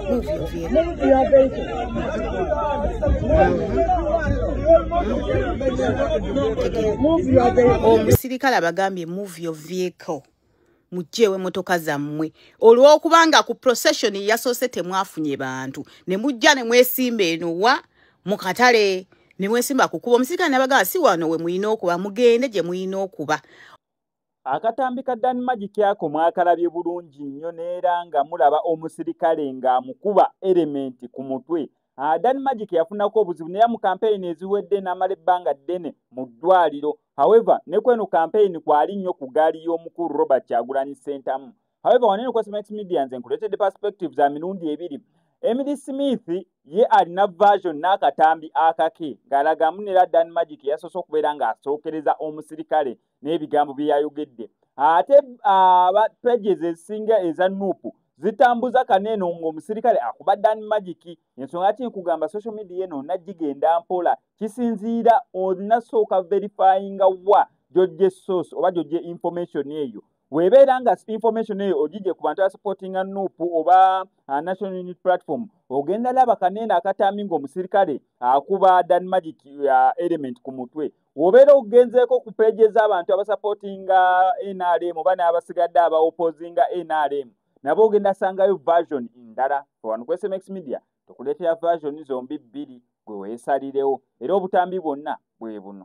Move your vehicle. Move your vehicle. Move your vehicle. Omusirikale abagambye move your vehicle. mujjeewo emmotoka zammwe olw'okubanga ku procession yasoose temwafunye bantu ne mujja ne mwesimba eno wa mu katale ne mwesimba kukuba omusirikale nabagaa si wano we mulina okuba mugende gye mulina okuba Akatambi ka Dan Magic ako mwakalabye bulungi nnyo neera nga mulaba omusirikale ng'amukuba erementi ku mutwe. Ah, Dan Magic yafunako obuzibu neya mu kampeyini eziwedde n'amala ebbanga ddene mu ddwaliro. However, ne kweno kampeyini kwali nnyo ku gaali y'omukulu Robert Kyagulanyi Ssentamu. However, wanene kwa Semax Media nze nkuleetedde perspective za mirundi ebiri. Emily Smith ye alina version n'akatambi akake ng'alagamu nera Dan Magic yasoose okubeera ng'asookereza omusirikale n'ebigambo bye yayogedde ate aba pages ezisinga eza nuupu zitambuza kaneeno ng'omusirikale akuba dan magiki ensonga ki nkugamba social media eno najigenda mpola kisinziira onasooka verifyinga wa gyojja esource oba gyojja information eyo webeera nga information eyo ogijje ku bantu asupportinga nup oba uh, national unit platform ogenda laba kaneeno akatambi ngaomusirikale akuba dan magic uh, element ku mutwe wobeera ogenzeeko ku peegi ez'abantu abasapootinga nrm oba n'abasigadde abaopozinga nrm nabo ogenda sangayo version ndala wano ku sms media tukuleetera version zombi bbiri gwe weesalirewo era obutambi bwonna bwe buno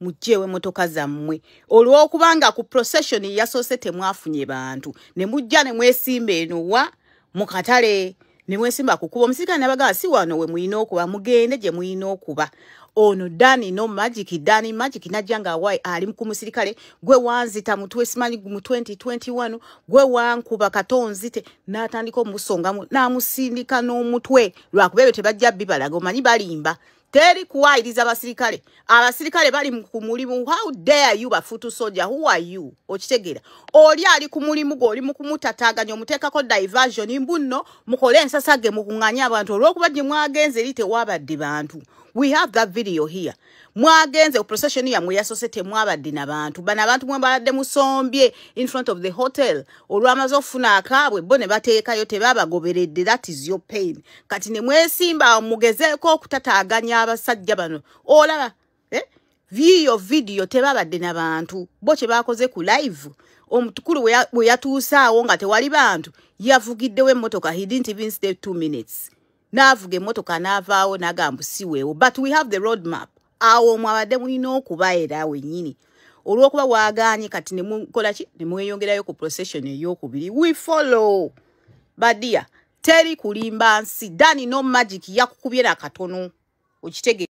mujjeewo emmotoka zammwe olw'okubanga ku procession yasoose temwafunye bantu ne mujja ne mwesimba eno wa mu katale ne mwesimba kukuba omusirikale nabagamba si wano we mulina okuba mugende gye mulina okuba ono dani no magic dani magic najja nga wa ali ku musirikale gwe wanzita mu twesimanyi mu 2021 gwe wankuba katonzite n'atandika omusongamu n'amusindika n'omutwe lwakuba ebyo tebajja bibalaga omanyi balimba teri kuwayiriza basirikale abasirikale bali ku mulimu how dare you bafutu soja who are you okitegeera oli ali ku mulimu gwe oli mu kumutataganya omuteekako diversion mbu nno mukole ensasa ge mukunganye abantu olwokuba gye mwagenze eri tewabadde bantu we have that video here mwagenze ku procession yamwe yasose temwabadde na bantu bana abantu mwe baladde musombye in front of the hotel olwamaze okufuna akaabwe bo ne bateekayo tebabagoberedde that is your pain kati ne mwesimba awo mugezeeko okutataaganya abasajja bano olaba eh? viyo vidiyo tebabadde na bantu bo kye baakoze ku live omutukulu bwe yatuusaawo nga tewali bantu yavugiddewo emmotoka he didn't even stay two minutes n'avuga emmotoka n'avaawo n'agamba siweewo but we have the road map awo omwabadde mulina okuba era wennyini olwokuba waganye kati nemukola ki nemweyongerayo ku procession eyokubiri we follow badia teri kulimba nsi dani no magic yakukubye nakatono okitege